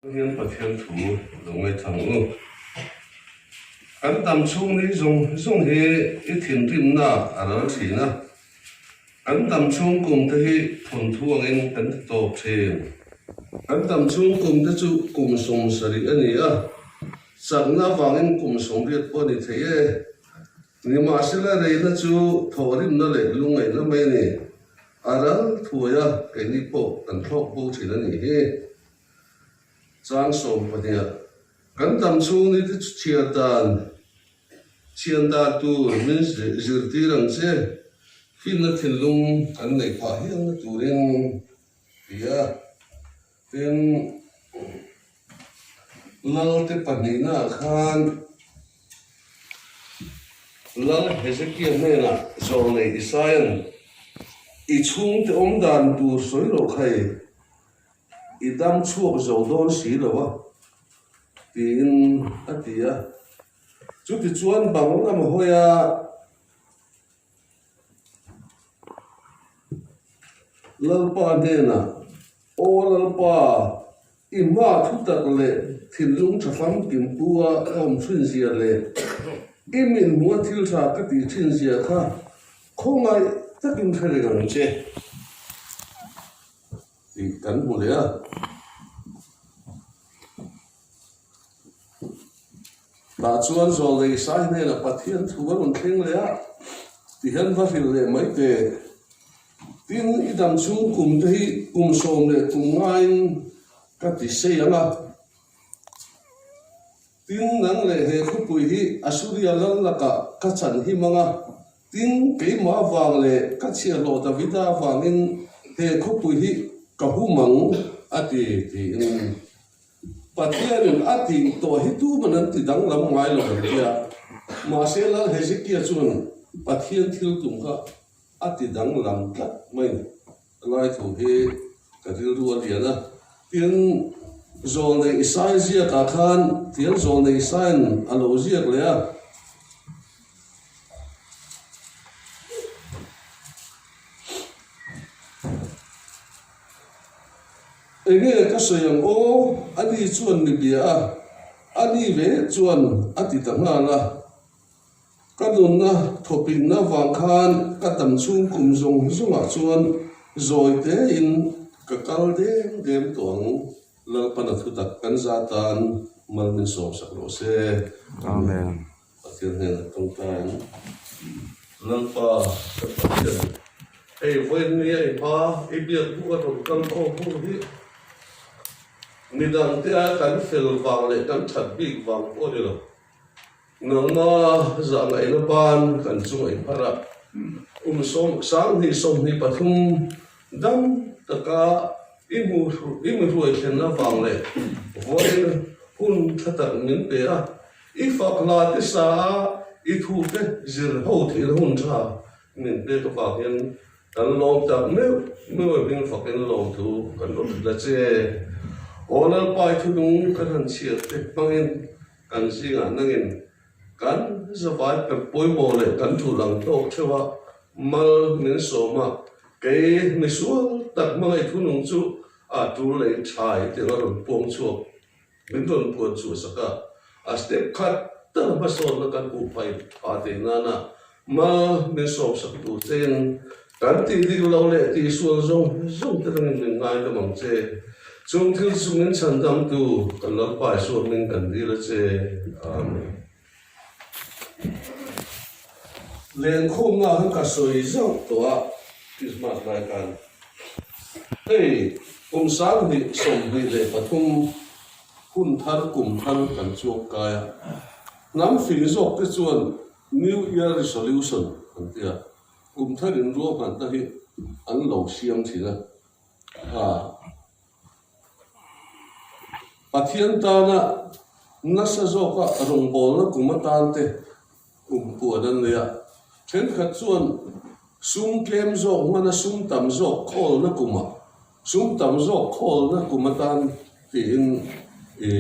Hian Pathian thu lo ngaih thlang u. Kan tam chhung ni zung zung hi i thinrimnaah a ral thin a. Kan tam chhung kumte hi thawnthu angin kan ti tawp thin. Kan tam chhung kumte chu kum sawm sarih a ni a, chakna avangin kum sawm riat pawh a ni thei e. Nimahsela reina chu thawhrimna leh lungngaihna mai ni a ral thuai a, keini pawh kan thlawk bo thin a nih hi. Chuan sawm pahniha kan tam chhung ni te chu chhiar dan chhian dan tur min zirtir ang che, fitna thinlung kan neih phah hial na turin ti a. Tin, Lalte pahnihnaa khan Lal Hezekiah hnenah zawng nei Isaia'n i chhungte awmdan tur sawi loh khai. I dam chhuak zo dawn si lo a, tiin a ti a. Chutichuan bang lam hawia Lalpa hnenah, Aw Lalpa, i hma thutak leh thinlung tha hlam pinpua ka awm chhinzia leh i min hmuha thil tha ka tih chhinzia kha khawngaih takin hre reng ang che. tih kan hmu leh a. Tah chuan Zual Lei Sai hnenah Pathian thu a rawn thleng leh a ti hian va hrilh leh mai te. Tin, i dang chhung kum te hi kum sawm leh kum ngaiin ka ti sei ang a. Tin, nang leh he khawpui hi Assuria lalnakah ka chan him ang a Tin, keimah vang leh ka chhiarhlawh Davida vangin he khawpui hi ka hum ang a ti, tiin Pathianin a tih tawh hi tuman an ti danglam ngai lo ang tia. Mahse, Lal Hezekiah chuan Pathian thil tum kha a ti danglam tlat mai. A lai thu hi ka rilru a lian a. Tin, zawl nei i sai ziak ah khan tial zawl nei sai'n a lo ziak leh a. Enge ka sawi ang aw, a ni chuan mi bia a, a ni ve chuan a ti ta nghal a. Ka nunna thawhpinhna vang khan ka tam chhung kum zawng zawngah chuan zawitein ka kal dem dem tawh ang. Lalpana thutak kan za tan mal min sawm sak rawh se. Amen. Pathian hnenah Tawngtain Lalpa ka Pathian, hei vawiinni a i hma i biak buk a rawn kal khawm hnu hi midangtea kan fel vang leh kan that bik vang pawh ni lo. Nangma zahngaihna pan kan chuai phar a, kum sawm, sanghnih sawmhnih pathum dang taka i hmu i mi hruai thlen avang leh vawiin hun thla tarh min pe a, i fak hla te sa a i thu te zir ho thihna hun tha min pek avang in kan lawm tak meuh meuh hming fakin lawm thu kan awm tlat che. Aw lalpa i thunung kan han chhiar te hmangin Kan zingah nangin kan zavai pep pawimawh leh kan tul ang tawk theuh a, mal min sawm a, kei misual tak hmangaih thunung chu a tul leh in tha hi tirh a rawn puang chhuak min rawn puan chhuah sak a, a step khat tak hmasawnna kan hmuh phai pha theih nana Hma min sawm sak tur che in kan tih ding lo leh tihsual zawng zawng te tangin min ngai hlawm ang che. Chung thil chu min chhan damtu kan Lalpa Isua hming kan dil a che. Amen. Len khumna khan ka sawi zauh tawh a Christmas lai khan. Hei kum sanghnih, sawmhnih leh pathum hun thar kum thar kan chuang kai a. Hnam fing zawk te chuan New Year Resolution an ti a, kum thar in ruahmanna hi an lo siam thin a. Pathian tana nasa zawka rawngbawlna kum atan te kum puan an nei a, thenkhat chuan sum tlem zawk hmana sum tam zawk khawlna kum ah, sum tam zawk khawlna kum atan tiin i.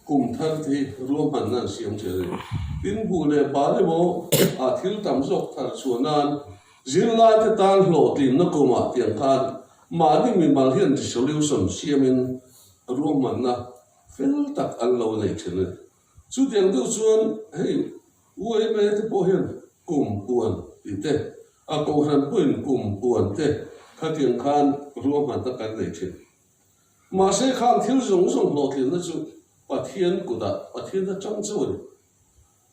Kum thar te hi ruahmanna an siam che reng. Tin, buh leh pa le maw ah thil tam zawk thar chhuah nan zirlaite tan hlawhtlinna kum ah tiang khan mahni mimal hian resolution siam in ruahmanna fel tak an lo neih thin a ni. Chu tiang deuh chuan hei UMA te pawh hian kum puan tih te, a kohhran pawhin kum puan te kha tiang khan ruahmanna kan neih thin. Mahse khan thil zawng zawng hlawhtlinna chu Pathian kudah, Pathian atang chu a ni.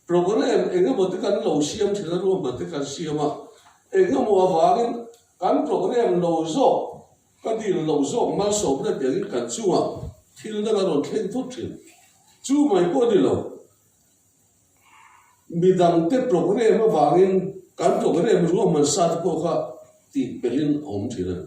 Programme engemawte kan lo siam thin a ruam hmate kan siam a, engemaw avangin kan programme lo zawk, ka dil lo zawk malsawm hle piangin kan chungah thil dang a rawn thleng phawt thin. Chu mai pawh a ni lo, mi dangte programme avangin kan programme ruahman sate pawh kha tihpelhin a awm thin a ni.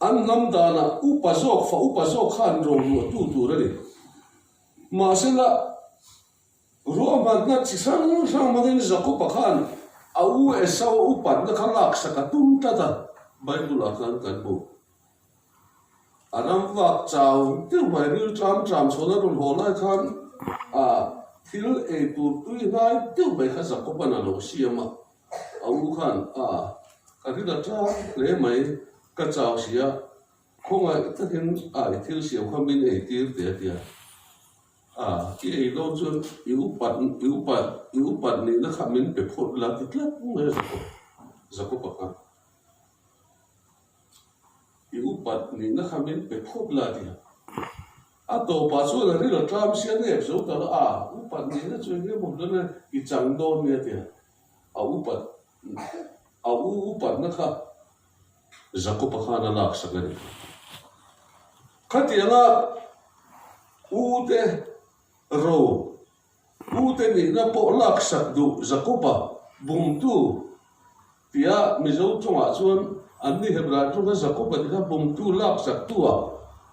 An lam danah upa zawk fa upa zawk kha an rawh luahtu tur a ni. Mahse la, ruahmanna chi hrang hrang hmangin Jakopa khan a u Esau-a upatna kha laksak a tum tlat a, Bible-ah khan kan hmu. A ram vak chau deuh mai ril tram tram chhawn a rawn haw lai khan a thil ei tur tui hnai deuh mai kha Zakopan a lo siam a, a u khan a ka ri la tlang hle mai ka chau si a, khawngaih takin a i thil siam kha min ei tir teh a ti a, a i ei dawn chuan i upat i upat i upat nihna kha min pe phawt la ti tlat mai a Zakopan khan. I upat nihna kha min pe phawp la nia. A tawpah chuan a ril a tlam sia ngep zo ta la a, upat nihna chu engemaw hlawh na i chang dawn nia tia a upat a u upatna kha Jakopa khan a lak sak a ni. Khatianga ute ro Mute nih na pawh laksak duh Jakoba bumtu tia Mizo chungah chuan an ni Hebrai ṭung kha Jakoba ti kha bumtu laksak tua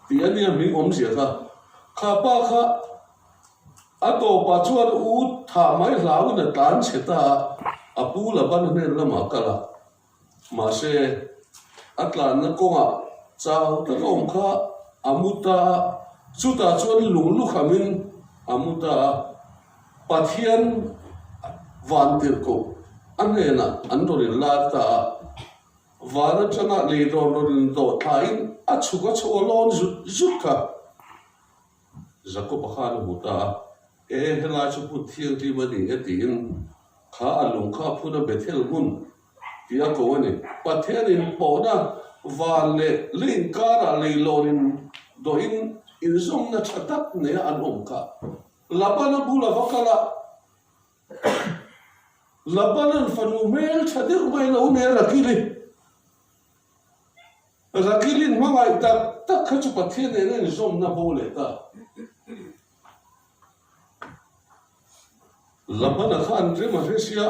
tih a nia hming awmzia kha kha pa kha a tawpah chuan u thah mai hlau in a tlan chhe ta a a pu Laban hnen lamah kal a Mahse, a tlanna kawngah chau tak a awm kha a mu ta a. Chutah chuan lung lukhamin a mu ta a. Pathian van tirhkoh a hnenah an rawn inlak ta a. Van atanga lei rawn rawn indoh thlain a chhuk a chawlawn zut zut kha. Zakopa khan a hmu ta a, E, helai chu hmun thianghlim a ni e tiin kha a lung kha a phun a, Bethel hmun tih a ko a ni. Pathian inpawhna van leh lei inkarah leilorin dawhin inzawmna tha tak neia an awm kha. Laban a bula va kal a. Labanan fanu hmel tha deuh mai lo nia Rakili. Rakilin hmangaih tak tak kha chu Pathian nen a inzawmna haw leh ta. Labana khan rim a hre sia,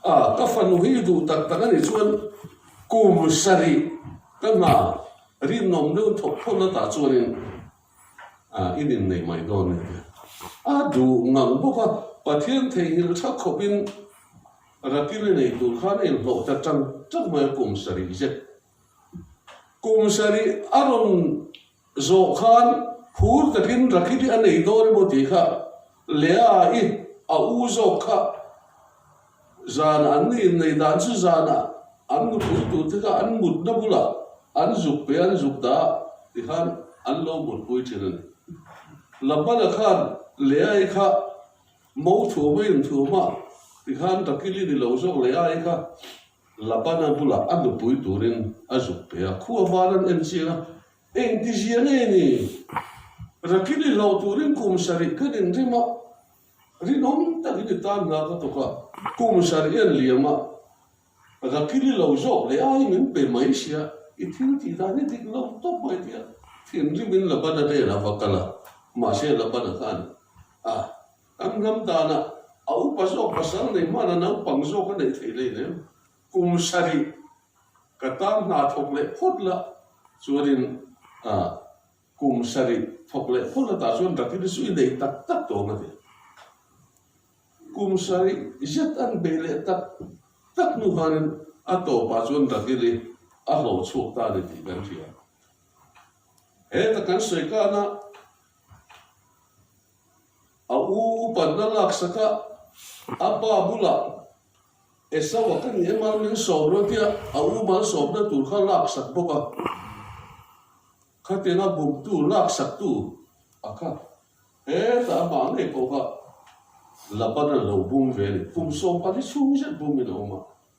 A, ka fanu hi i duh tak tak a nih chuan kum sarih ka hna rinawm deuh thawk thawn atah chuanin A inin nei mai dawn nen hian a duh ngang bawk a, Pathian theihilh tha khawpin Rakil-i nei tur khan a inhlawh ta ṭang ṭang mai a kum sarih zet. Kum sarih a rawn zawh khan phur takin Rakil-i a nei dawn emaw tih kha Leah-i a u zawk kha zan an ni in nei dan chu zanah an nupui tute kha an mutna bulah an zuk pe an zuk dah ti khan an lo mutpui thin a ni. Labana khan Leah-i kha mo thuam a inthuam a ti khan Rakil-i ni lo zawk Leah-i kha Labana bulah a nupui turin a zuk pe a. Khuavan an en chiang a, Engti zia nge ni? Rakil i hlauh turin kum sarih ka rinrim a, rinawm takin i tan hna ka tuk a, kum sarih i an liam a, Rakil i lo zawk leh ai min pe mai sia, i thil tih dan hi dik lo tawp mai tia thinrim in Labana velah va kal a, mahse Labana khan a kan hnam dan a, a upa zawk pasal nei hmana naupang zawk a neih theih lei lem, Kum sarih ka tan hna thawk leh phawt lah chuanin ah kum sarih thawk leh phawt lah tah chuan Rakiri chu i nei tak tak tawh ang a ti. Kum sarih zet an bei leh tak tak hnu khanin a tawpah chuan Rakiri a hlawh chhuak ta a ni tih kan hria. Heta kan sawi kahna. A u upan a laksak a, a pa bulah Esau a ka nih em ang min sawm lo tia a u mal sawmna tur kha a laksak bawk a, khatin a buktu laksaktu a kha heta amah ngei pawh kha Laban a lo bum ve a ni, kum sawmpali chhung zet bumin a awm a.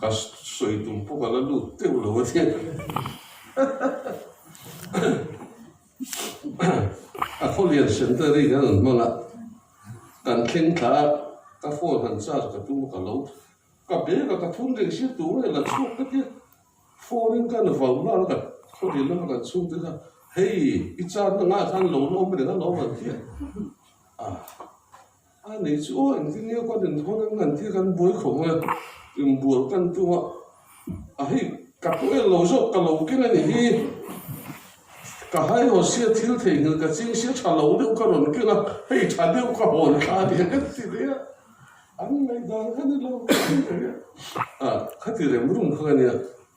Ka sawi tum pawh ka la lut teuh lo ania. A khawlian centenary kan rawn hmang a, kan thleng thla a, ka phone han charge ka tum a ka lo ka bag a ka phun reng sir tura i la chhuak ka tia, phone in ka na vau lual a ka khawlin lama kan chhung tel a, hei i charna ngah khan lo lawm reng a lo lang thliah a. A nei chu aw eng zing nge khuaten thawn an han tir kan buai khawp mai a, inbual kan tum a, a hei ka tawh el lo zawk ka lo keng anih hi, ka haihaw sia thil theihngilh ka ching sia tha lo deuh ka rawn keng a, hei tha deuh ka hawn kha a nia kan ti leh a, an ngaihdan kha ni lo ka ti leh a, a kha ti remrum kha ka nia.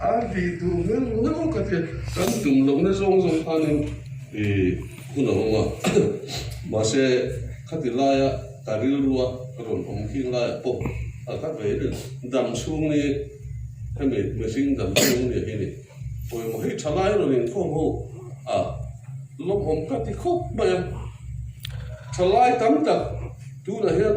An tih tur hian eng emaw ka ti a, kan tum loh na zawng zawng khanin ih hun a awm a, mahse khati laia ka rilrua ka rawn awm khing laiah pawh a ka vei reng dam chhung ni hemi mihring dam chhung ni hi ni pawimawh hei tha lai rawn inkhawm ho a, lawmawm ka ti khawp mai a, thalai tam tak tunah hian.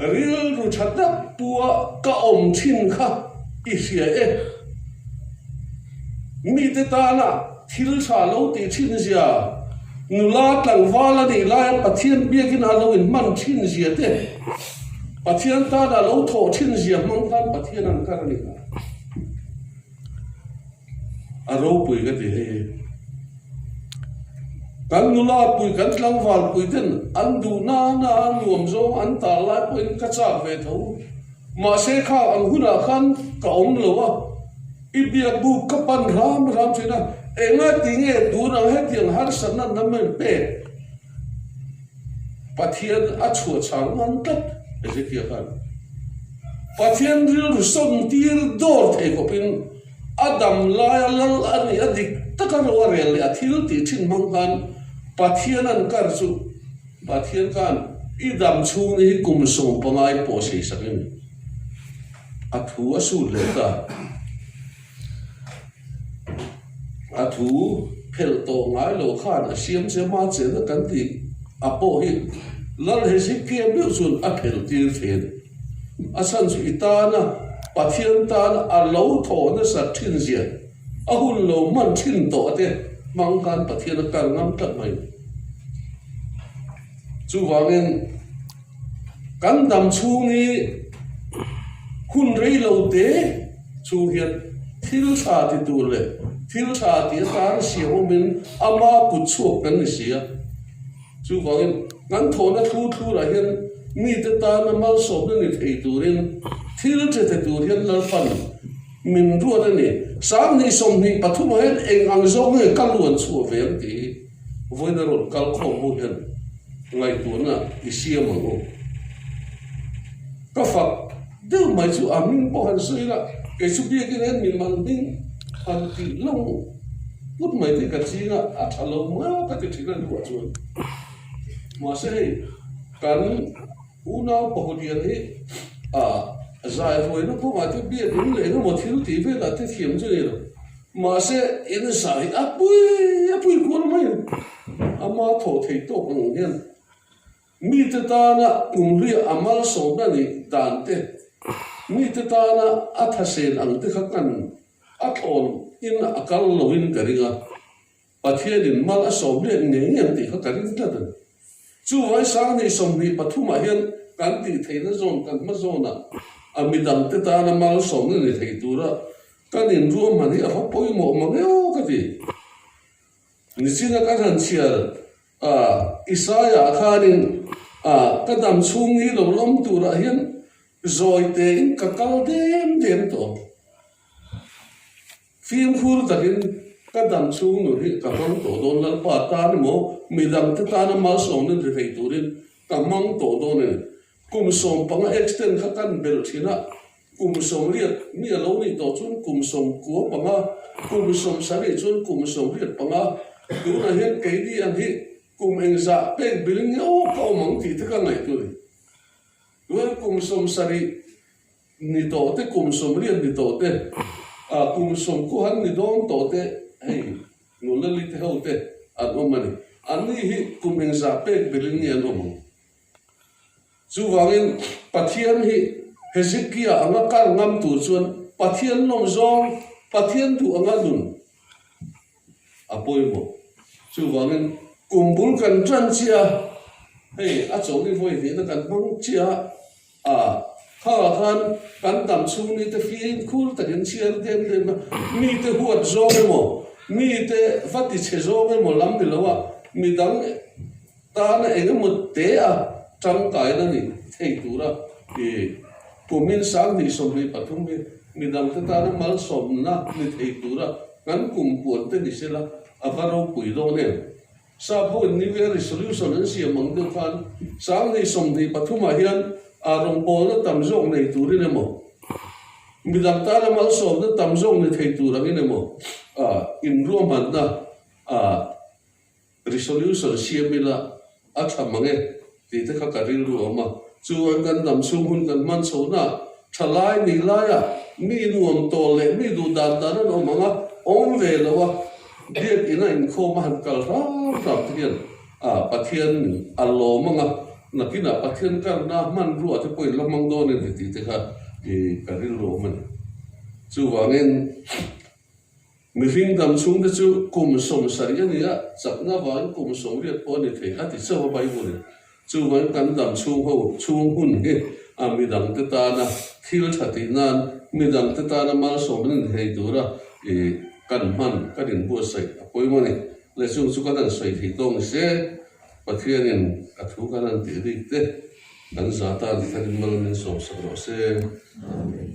Rilru tha dap pua ka awm thin kha i hria e. Mite tana thil tha lo ti thinzia, nula tlangval a nih laia Pathian biakin a lo inhman thinzia te, Pathian tana lo thawh thinzia hmang khan Pathian an kar a ni hlawm. a ropui ka ti hei. Kan nulapui, kan tlangvalpui ten an duh nana a nuam zawng an tar lai pawhin ka chak ve tho. Mahse kha an hunah khan ka awm lo a, i biakbu ka pan ram ram thin a, enga tinge tun ang hetiang harsatna na men pek? Pathian a chhuahchhar ngan tlat Hezekia khan Pathian rilru sawn tir dawr thei khawpin, A dam laia lal a nih a dik tak a ro a rel leh a thil tih thin hmang khan Pathian an kar chu Pathian khan i dam chhung ni hi kum sawm pangai pawh seisak in a thu a sut leh ta a thu phelh tawh ngai lo khan a siam che ma che na kan tih a pawh hi lal he si kiam deuh chun a phel tir thin. A chhan chu i tana Pathian tana a lo thawh nasa ṭhinzia, a hun lo hman ṭhin tawh a te hmang khan Pathian a kal ngam tlat mai. Chuvangin kan dam chhung i hun rei lo te chhung hian thil ṭha ti tur leh thil ṭha ti atang siam awmin ama kut chhuak kan ni si a. Chuvangin, kan thawhna thu thlurah hian mite tana malsawmna nit ei turin thil ṭhete tur hian lalpan min ruat a ni. Sang hnih sawmhnih pathum ah hian eng ang zawk nge ka luan chhuah ve ang tih hi vawiin a rawn kal khawm hmuh hian ngaihtuahna i siam ang u. Ka fak. Deuh mai chu a hming pawh han sawi la, kei chu biakin a en min man ding han tih lo put mai te ka ching a, a tha lo mai a ka ti thin a hnuah chuan. Mahse hei kan unau pahawlian hi a zaihuaina kawngah te biakin leh emaw thil ti velah te thiam chu ni lo. Mahse insa hi a pui a pui kual mai a, ama tho thei tawk ang hian. Mite tana kumhria a malsawmna nih dan te, mite tana a thahsen ang te kha hman a tlawn in a kal lo in ka ring a, Pathianin mal a sawm hle nge nge ang tih kha ka ring tlat a ni. Chu vai sang ni sawmhnih pathum ah hian kan tih theihna zawn kan hma zawn ah a mi dang te tana malsawmna ni theih tur a kan in ruahman hi a va pawimawh mangeu ka ti. Nichin a kan han chhiar. A, Isaiah khanin, A, ka dam chhung hi lo lawm turah hian zawi tein ka kal dem dem tawh. Fimkhur takin ka dam chhung nun hi ka hmang tawh dawn Lalpa tan emaw, midangte tana malsawm in ri hei turin ka hmang tawh dawn a ni. Kum sawm panga extend kha kan belh thin a, kum sawm riat ni a lo nih tawh chuan kum sawm kua panga, kum sawm sarih chuan kum sawm riat panga, tunah hian keini ang hi kum eng zah pek bil ngeuh ka awm ang tih te ka ngaihtu ni. Tuan kum sawm sarih ni tawh te, kum sawm riat ni tawh te, a kum sawm kua han ni dawn tawh te hei nunlalite ho te an awm a ni. An ni hi kum eng zah pek bil in nge an awm ang? Chuvangin, Pathian hi Hezekiah anga kal ngam tur chuan Pathian lawm zawng, Pathian duh anga nun a pawimawh. Chuvangin, kum bul kan tan chiah a, hei a chawhni vawi hnihna kan hmang chiah a. Khauah khan kan tam chhungni te fîm khûl takin chhiar dêm dêma mite huat zawng emaw, mite va tichhe zawng emaw lam ni loa, midang Tana engemaw-te a tangkaina nih thei tura i kumin sang hnih sawmhnih pathum hi mi dangte tana malsawmna ni thei tura kan kum puan te ni sela a va ropui dawn em? Sa Boin New Year Resolution an siam ang deuh khan sang hnih sawmhnih pathumah hian aa rawngpawlna tam zawk nei turin emaw, mi dang tana malsawmna tam zawk ni thei tur angin emaw a inruahmanna a Resolution siam ila a tha mang e tih te kha ka rilru awm a. Chuan kan hnam chhung hun kan hman chho naah tha lai ni laia mi nuam tawl leh mi duh dan dan an awm ang a, awm ve loa biakin a inkhawm a han kal hram hram te hian a Pathian a lawm ang a, nakinah Pathian karna hmanruah te pawhin la hmang dawn em titih te kha ka rilru awm a ni. Chuvangin Mihring dam chhungte chu kum sawm sarih a ni a, chakna vang kum sawm riat pawh a ni thei a ti chauh a Bible-i. Chu vang kan dam chhung ho chhung hun hi a mi dangte tana thil tha tih nan mi dangte tana malsawm an inhei tura i kan hman kan in buatsaih a pawimawh a ni. Le chung chu kan han sawi thei tawng ni se, Pathianin a thu kan han tih bik te kan za tan kan in mal min sawmsak rawh se. Amen.